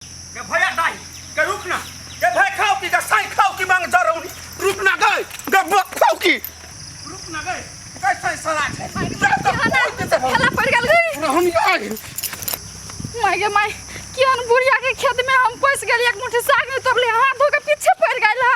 गे भैया दाई गे रुक ना गे भाई खाओ की गे साई खाओ की मांग जा रौनी रुक ना गए गे बक खाओ की रुक ना गए गे साई सरा के जा तो बोल दे सब खेला पड़ गल गई रहनी आई माय गे माय कियन बुढ़िया के खेत में हम पैस गेल एक मुट्ठी साग में तोरले हाथ धो के पीछे पड़ गइल हा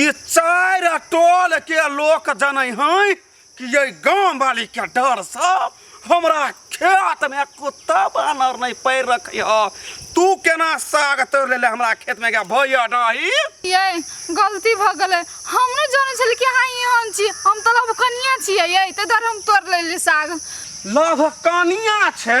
ई चारि आ टोल के लोक जनै हैं कि ये गांव वाली के डर से हमरा खेत में कुत्ता बानर नहीं पैर रखै ह तू केना साग तोड़ लेले हमरा खेत में के भैया डाही ये गलती भ गेलै हम नहि जानै छली कि अहाँ एहन छी हम तऽ लबकनिया छियै ये ताहि दुआरे हम तोड़ लेली साग लभ कनिया छै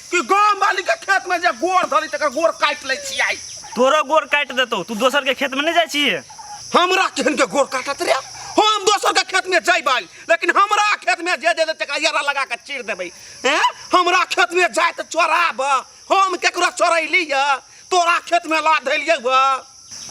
कि गांव वाली के खेत में जे गोर धरी तकर गोर काट ले छी आई तोरो गोर काट देतो तू दोसर के खेत में नहीं जाय छी हमरा केहन के गोर काटत रे हम दोसर के खेत में जइबै लेकिन हमरा खेत में जे जे तका यारा लगा के चीर देबै हैं हमरा खेत में जाय त चोराब हम केकरो चोरैली तोरा खेत में ला धैलियै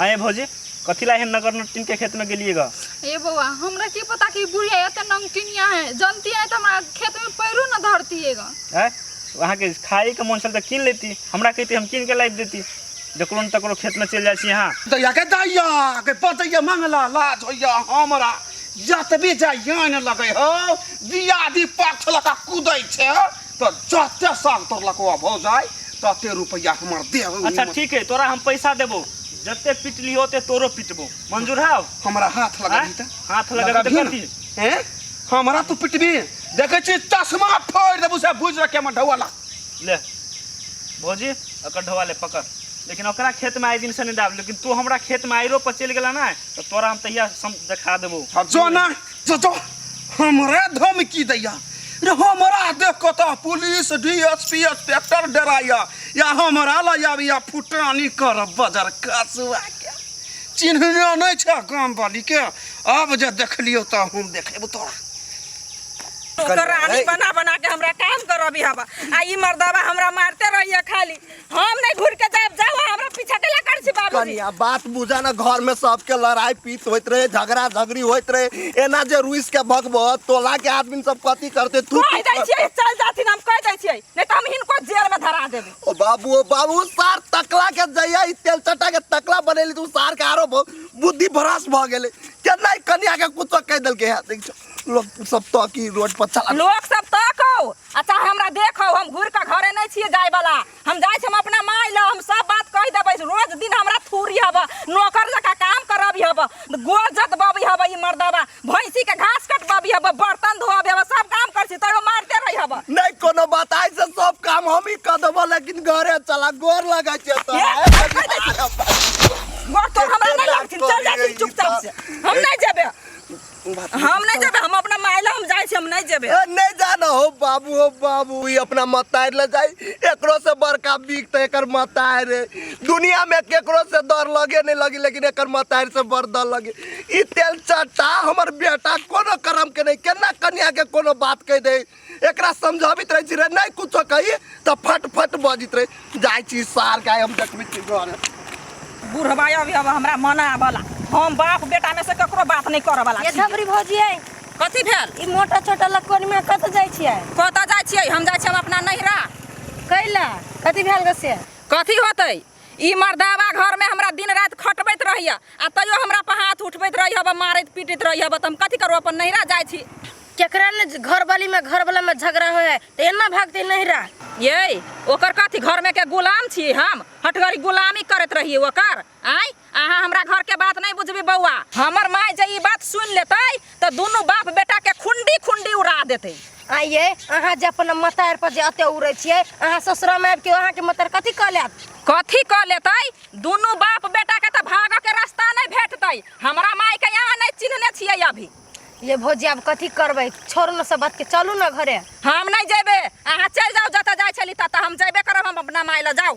अये भौजी कथी ला एहन नगर नटिन के खेत में गेलिए गा ए बौआ हमरा की पता कि बुढ़िया एते नमकीनिया है जनती है तो हमरा खेत में पैरो न धरती है गा हैं वहाँ के खाए के मन छल तो कीन लेती हमरा कहती हम कीन के लाइब देती जकरो न तकरो खेत में चल जाइ छी यहाँ दैया के दैया के पतैया मंगला लाज होइया हमरा जतबे जाइया ने लगै हो दिया दी पाछ लका कुदै छै तो जते साग तोर लकवा भौ जाय तते रुपया हमर दे अच्छा ठीक है तोरा हम पैसा देबो जते पिटली होते तोरो पिटबो मंजूर है हमरा हाथ लगा दी त हाथ लगा दी कथी हैं हमरा तू पिटबी देखे छी चश्मा फोड़ देबो से बुझ रखे हम ढवाला ले भौजी अकर ढवा ले पकड़ लेकिन ओकरा खेत में आए दिन से नहीं डाल लेकिन तू हमारा खेत में आयरो पर चल गला ना तो तोरा हम तैयार देखा देबो जो ना चाचा हमरा धमकी दैया रे हमरा देख कऽ तऽ police D S P inspector डराइया या हमरा लऽ आबैया फुटानी कर बजर कसुआ के चिन्हने नहि छै गाम वाली के आब जे देखलियौ तऽ हम देखेबौ तोरा ओकर रानी बना बना के हमरा काम करबी हवा आ ई मर्दवा हमरा मारते रहिए खाली हम नहीं घूर के जाब जाओ हमरा पीछा के ला कर छी बाबूजी कनिया बात बुझा ना घर में सबके लड़ाई पीत होइत रहे झगड़ा झगड़ी होइत रहे एना जे रुइस के भगब तोला के आदमी सब कथी करते तू कह दे छियै चल जाथिन हम कह दे छियै नहीं तो हम हिनको जेल में धरा देबे ओ बाबू ओ बाबू सार तकला के जइया ई तेल चटा के तकला बनेली तू सार के आरो ब- बुद्धि भ्रष्ट भ गेले केना ई कनिया के कुछ कह देलके है देख छो। लोक सब तऽ की रोड पर चला लोक सब तकौ आ चाहे हमरा देखौ हम घुर के घरे नै छियै जाय वाला हम जाय छी हम अपना माय ल हम सब बात कह देबै रोज दिन हमरा थूरी हब नौकर जका काम करबी हब गोर जतबबी हब ई मर्दावा भैंसी के घास कटबबी हब बर्तन धोबी हब सब काम कर छी तैयो मारते रही हब नहीं कोनो बात आइ से सब काम हम ही कर देबो लेकिन घरे चला गोर लगा छै तो ये, आइ कहि दै छी। गोर तो हमरा नै लागथिन चल जाथिन चुपचाप से हम नै जेबै हम नहीं जेबे हम अपना मायला हम जाए हम नहीं जेबे ए, नहीं जाना हो बाबू हो बाबू ई अपना मतार ले जाई एकरो से बड़का बिक तो एकर मतार है दुनिया में केकरो से डर लगे नहीं लगी लेकिन एकर मतार से बड़ डर लगे ई तेल चाटा हमर बेटा कोनो करम के नहीं केना कन्या के कोनो बात कह दे एकरा समझाबित रहै छी रे नहि कुछो कही तऽ फट फट बजित रहै जाइ छी सार गाय हम देखबै छी घर बुढ़बा अभी अब हमरा मन आबला हम बाप बेटा में से ककरो बात नहीं करऽ वाला ये छी। धबरी भौजी है कथी भेल ई मोटा छोटा लकोन में कत जाइ छियै कतऽ जाइ छियै हम जाइ छियै हम अपना नैहरा कैला कथी भेल गसे कथी होतै ई मर्दावा घर में हमरा दिन रात खटबैत रहिए आ तैयो हमरा पर हाथ उठबैत रहिए बा मारैत पीटैत रहिए बा तऽ हम कथी करू अपन नैहरा जाइ छी केकरा ने घर वाली में घर वाला में झगड़ा हो है तो एना भागते नहीं रहा ये ओकर कथी घर में के गुलाम छी हम हटगरी गुलामी करैत रहिए ओकर आय अहाँ हमरा घर के बात नहीं बुझबी बउआ हमर माय जे ई बात सुन लेते तो दोनों बाप बेटा के खुंडी खुंडी उड़ा देते आइए अहाँ जे अपन मतार पर जे अते उड़े छिए अहाँ ससुरा में आबि के अहाँ के मतार कथी कह लेत कथी क लेते दोनों बाप बेटा के तो भागो के रास्ता नहीं भेटते हमरा माय के यहाँ नहीं चिन्हने छिए अभी ये भौजी आब कथी करबै छोड़ न सब बात के चलू न घरे हम नहीं जेबे अहाँ चल जाओ जतऽ जाय छली ततऽ हम जेबे करब हम अपना माय लऽ जाओ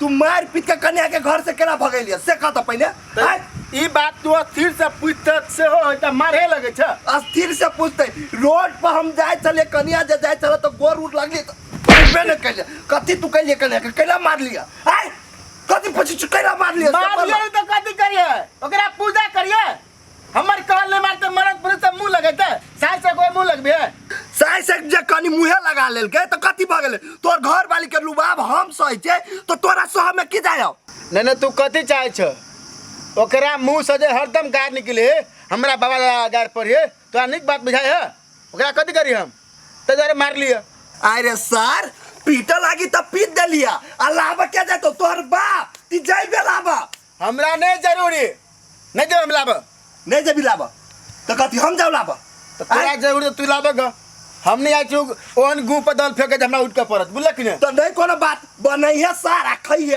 तू मार पीट के कन्या के घर से केना भगेलिए से कह त पहिले आय ई बात तू अस्थिर से पूछते सेहो होय त मारे लगे छ अस्थिर से पूछते रोड पर हम जाए चले कन्या जे जाए चले तो गोर उठ लगली तो अइबे न कैले कथी तू कैले कन्या के कैला मार लिया आय कथी पूछी कैला मार लिया से मार बोल। लियो त कथी करिए ओकरा पूजा करिए हमर कहल नहीं मानते मरद पुरुष से मुंह लगेते सास से कोई मुंह लगबे साई से जे कनी मुहे लगा लेलके तो कथी भ गेले तोर घर वाली के लुबाब हम सही छै तो तोरा सह में की जायो नहीं नहीं तू कथी चाहे छ ओकरा मुंह से जे हरदम गार निकले हमरा बाबा दादा गार पढ़िए तोरा नीक बात बुझाए है ओकरा कथी करी हम तो जरे मार लिए अरे सर पीटे लागी तो पीट देलिया आ लाबा के जातो तोहर बाप ती जाइबे लाबा हमरा नहि जरूरी नहि जेबै हम लाबऽ नहि जेबी लाबऽ तऽ कथी हम जाउ लाबऽ तऽ तोरा जरूरी तऽ तू लाबऽ ग हम नहि आइ छी उ- ओहन गूँ पर दल फेंके जे हमरा उठि कऽ पड़त बुझलक कि नहि तऽ नहि कोनो बात बनैहे सारा खैहे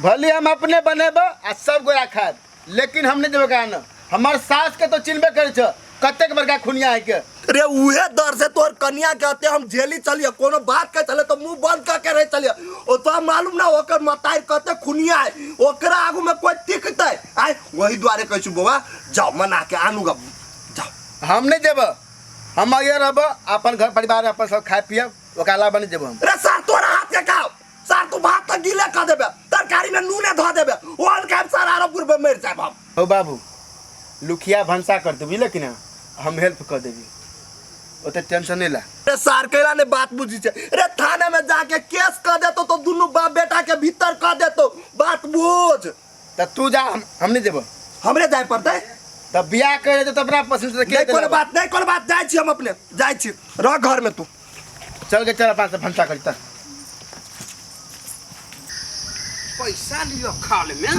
भले हम अपने बनेबऽ आ सब गोरा खाएब लेकिन हम नहि देबै गाना हमर सास के तो चिन्हबे करे छ कतेक बड़का खुनिया है के रे उहे डर से तोर कन्या के हते हम झेली चलिए कोनो बात के चले तो मुंह बंद करके रह चलिए ओ तो मालूम ना ओकर मताई कते खुनिया है ओकरा आगू में कोई टिकते आय वही द्वारे कहै छु बौआ जाओ मना के आनू गा जाओ हम नहीं देब हम आगे रहब अपन घर परिवार अपन सब खाए पियब ओकरा अलावा नहीं देब हम रे सर तोरा हाथ के खाओ सर तू भात तो गीले कर देबे तरकारी में नूने धो देबे ओल के सर आरो पूर्व मर जाए हम हो बाबू लुखिया भंसा कर दू बुझल कि ना हम हेल्प कर देबी ओते टेंशन नहीं ला रे सर कैला ने बात बुझी छे रे थाने में जाके केस कर देतो तो दुनु बाप बेटा के भीतर कर देतो बात बुझ त तू जा हम हम नहीं देबो हमरे जाय पड़तै तब बियाह करे तो अपना पसंद से के नहीं कोनो बात नहीं कोनो बात जाय छी हम अपने जाय छी रह घर में तू चल के चल पास भंसा करता पैसा लियो खाल में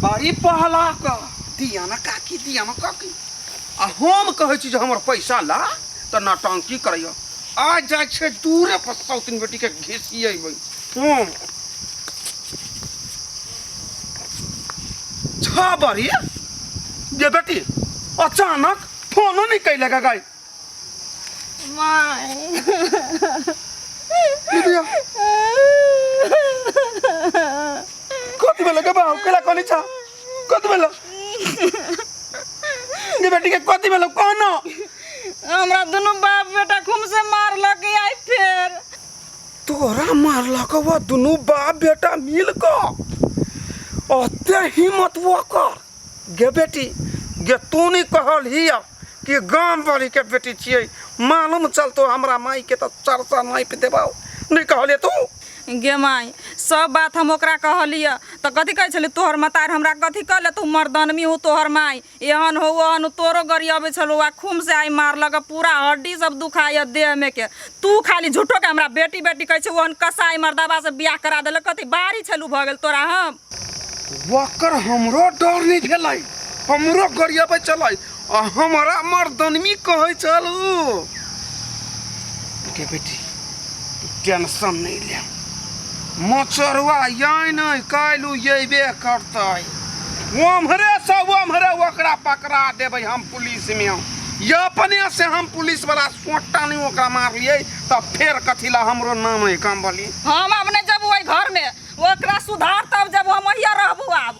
बड़ी पहला क दिया ना काकी दिया ना काकी आ हम कहै छी जे हमर पैसा ला त नटंकी करैयो आ जाइ छै दूरे पर सौतिन बेटी के घिसियेबै हूँ छह बरी जे बेटी अचानक फोनो नहीं कैले का गाई माय दीदिया कति बेला के बाहु केला कनी छ कति बेला जे बेटी के कति बेला कौन हमरा दुनू बाप बेटा खूम से मारलक आई फेर तोरा मारलक वह दुनू बाप बेटा मिल कऽ ओते हिम्मत ओकर गे बेटी गे तू नहि कहलही कि गाम वालीके बेटी छियै मालूम चलतो हमरा मायके तऽ चरचा नापि देबौ नहि कहलियै तू गे माय सब बात हम ओकरा कहलियै तऽ कथी कहै छलै तोहर मतार हमरा कथी कहले तू मर्दनमी हूँ तोहर माय एहन हो ओहन तोरो गरियाबे छलो आ खूम से आई मारलक पूरा हड्डी सब दुखाय देह में के तू खाली झूठो के हमरा बेटी बेटी कहै छै ओहन कसाई मर्दाबा से बियाह करा देले कथी बाहरी छलू भ गेल तोरा हम वकर हमरो डर नहीं भेलै हमरो गरियाबे चलै आ हमारा मर्दनमी कहै छल उ बेटी बेटी टेंशन नहीं ले मचरुआ यही नहीं कल अबे करत ओम्हरे से ओम्हरे ओकरा पकड़ा देवे हम पुलिस में ये अपने से हम पुलिस वाला सोटा नहीं ओकरा मारिए तो फिर कथी ला हमरो नाम है कम बोली हम अपने जब वही घर में ओकरा सुधार तब जब हम वही रहबू आब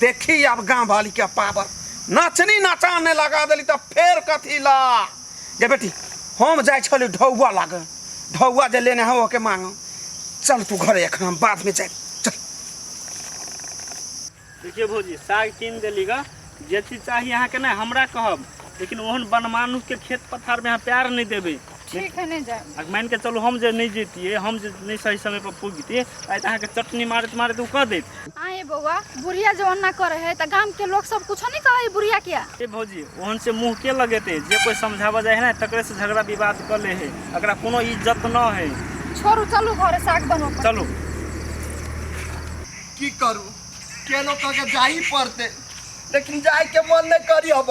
देखी अब गाँव वाली के पावर नाचनी नाचाने लगा दिली तब फेर कथी ला गे बेटी हम जाए छली ढौआ लागे ढौआ जे लेने हो के मांग चल तू घरे एखन हम बाद में जाए चल देखिए भौजी साग कीन देली ग जे चीज चाही अहाँके नहि हमरा कहब लेकिन ओहन बनमानुसके खेत पथारमे अहाँ प्यार नहि देबै ठीक है नहि जायब आ मानि कऽ चलू हम जे नहि जैतियै हम जे नहि सही समय पर पुगितियै आइ तऽ अहाँके चटनी मारैत मारैत ओ कऽ देत आए बौआ बुढ़िया जो अन्ना करे है तो गांव के लोग सब कुछ नहीं कहे है बुढ़िया क्या ए भौजी ओहन से मुंह के लगेते जे कोई समझावा जाए है ना तकरे से झगड़ा विवाद कर ले है एकरा कोनो इज्जत न है छोड़ू चलू घरे साग बनबऽ पड़त। चलू की करू केनो कह के जाही पड़ते लेकिन जाय के मन नहीं करी अब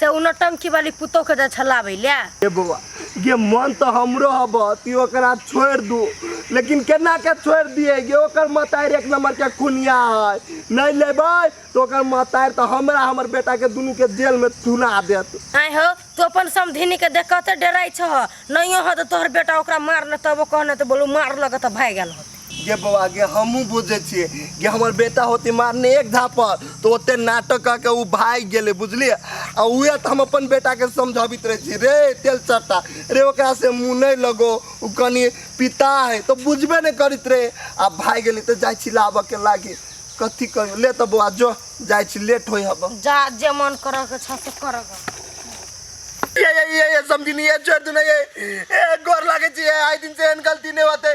से उ नौटंकी वाली पुतोह के जाय छलाबै ले ए बौआ गे मन तऽ हमरो हब तू ओकरा छोड़ि दू लेकिन केना के छोड़ि दिए गे ओकर मतारि एक नंबर के खुनिया है नहीं लेबै तऽ ओकर मतारि तऽ हमरा हमर बेटा के दुनू के जेल में थुना देत आय हो तू अपन समधिनी के देख कते डराइ छह नहियो हो तो तोहर बेटा ओकरा मार न तबो कहने तो बोलू मार लग तो भाग गेल होते गे बौआ गे हमहूँ बुझै छियै गे हमर बेटा होती मारने एक धापर तऽ ओते नाटक कऽ के ओ भागि गेलै बुझलियै आ उएह तऽ हम अपन बेटाके समझाबैत रहै छी रे तेल चट्टा रे ओकरा से मुँह नहि लगो ओ कनि पिता है तऽ बुझबे नहि करैत रहै आ भागि गेलै तऽ जाइ छी लाबऽके लागी कथी करू ले तऽ बौआ जो जाइ छी लेट होइ हब जा जे मन करऽ के छ से करऽ के ये ये ये ये समझी नहीं ये छोड़ दूं ना ये ए गोर लागे छी ये आई दिन से एहन गलती नहीं होते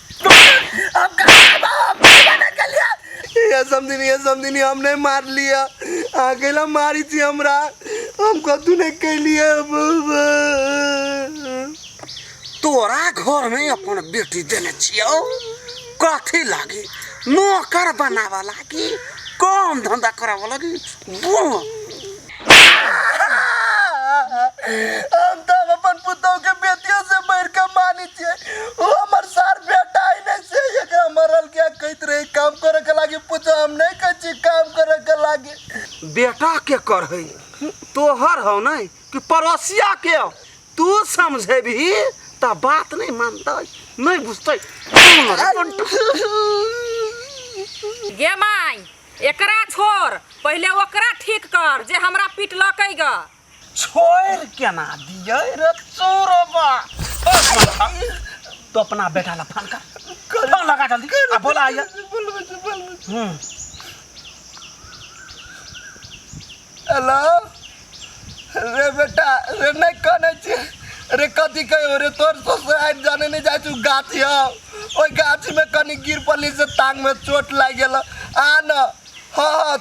हम कहाँ बा? हम कहीं बा नहीं कलिया। ये समझनी ये समझनी हम नहीं मार लिया अकेला मारी थी हमरा हम कद्दू नहीं कैलिए बाबा तोरा घर में अपन बेटी देने छियो कथी लागी नौकर बनावा लागी काम धंधा करावा लागी बुढ़ हम तो अपन पुतोह के बेटियों से बढ़ के मानी छे वो हमर सार बेटा ही नहीं से एकरा मरल क्या कहत रहे काम करे के लागे पूछो हम नहीं कहै छी काम करे के लागे बेटा के कर है तोहर हो नहीं कि पड़ोसिया के हो तू समझे भी ता बात नहीं मानता नहीं बुझते गे माई एकरा छोड़ पहिले ओकरा ठीक कर जे हमरा पिटलकै ग छोड़ केना दिए रे चोरबा तो अपना बेटा ला फोन कर फोन लगा जल्दी आ बोला आइए बोलबे बोलबे हम्म हेलो रे बेटा रे नहीं कने छी रे कथी कहियो रे तोर ससुराल जाने नहीं जाय छु गाछी हौ ओहि गाछी में कनी गिर पड़ली से टांग में चोट लाग गेल आ न हाँ हाँ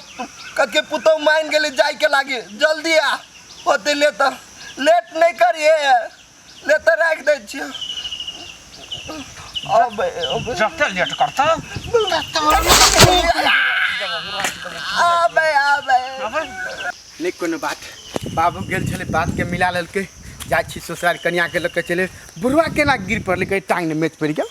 कके पुतौ मान गेली जाय के लागी जल्दी आ होते ले तो लेट नहीं करिए ले तऽ राखि दै छियै अब अब जते लेट करता आबे आबे नहि कोनो बात बाबू गेल छलै बातके मिला लेलकै जाइ छी ससुराल कनियाके लऽ कऽ चले बुढ़वा केना गिर पड़लै कहै टाङ्गमे मेच पड़ि गेल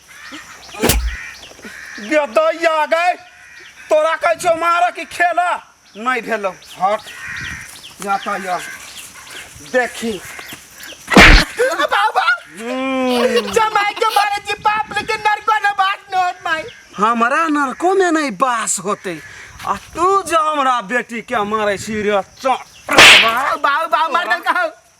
गेदैया गए तोरा कहै छौ मारऽ कि खेलऽ नहि भेलौ हट जाता या देखी बाबा जमाई के मारे जी बाप लेकिन नरको न बात न होत माई हमरा नरको में नहीं बास होते आ तू जो हमरा बेटी के मारे छी रे चोट बाबू बाबू मार दल कहू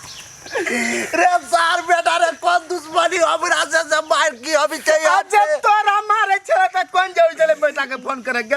रे सार बेटा रे कोन दुश्मनी हमरा से से मार की अभी चाहिए अच्छा तोरा मारे छे त कोन जाऊ चले बेटा के फोन करे के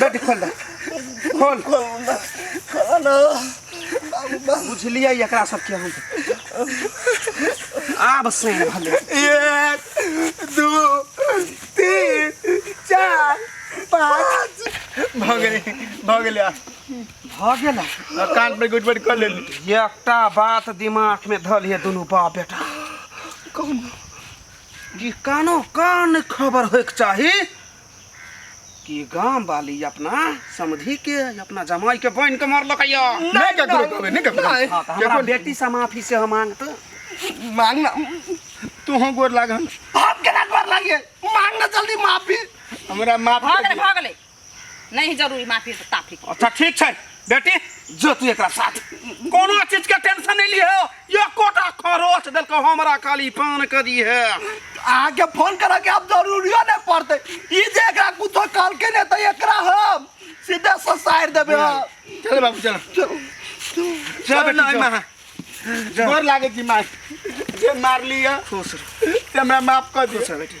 बेटी खोल दे खोल बुझलियै एकरा सबके हम आब से भले एक दू तीन चार पाँच भऽ गेलै भऽ गेलै आ भऽ गेल आ कान पर गुट गुट कऽ लेली एकटा बात दिमाग में धल है दुनू बाप बेटा कौन ई कानो कान खबर होइके चाही कि गाम वाली अपना समधी के अपना जमाई के बहन के मारलक या नहीं ककरो कहबे नहीं ककरो नहीं। हाँ, तो हमरा केकरो- बेटी से माफी से हम मांगत मांग ना तू हो गोर लाग हम आप के ना कर लागे मांग ना जल्दी माफी हमरा माफ भऽ कर गेलै दिअ। भऽ गेलै नहि जरूरी माफी तऽ ताफी अच्छा ठीक छै बेटी जो तू एकरा साथ कोनो चीज के टेंशन नहीं लियो यो कोटा खरोच देल को हमरा खाली पान कर दी है आगे फोन करा के अब जरूरियो नहीं पड़ते ई जे एकरा कुतो काल के ने तो एकरा हम सीधे ससार देबे हम। चल बाबू चल चल बेटी नहीं मां गोर लागे जी मां जे मार लिया खुश रहो हमरा माफ कर दे खुश रहो बेटी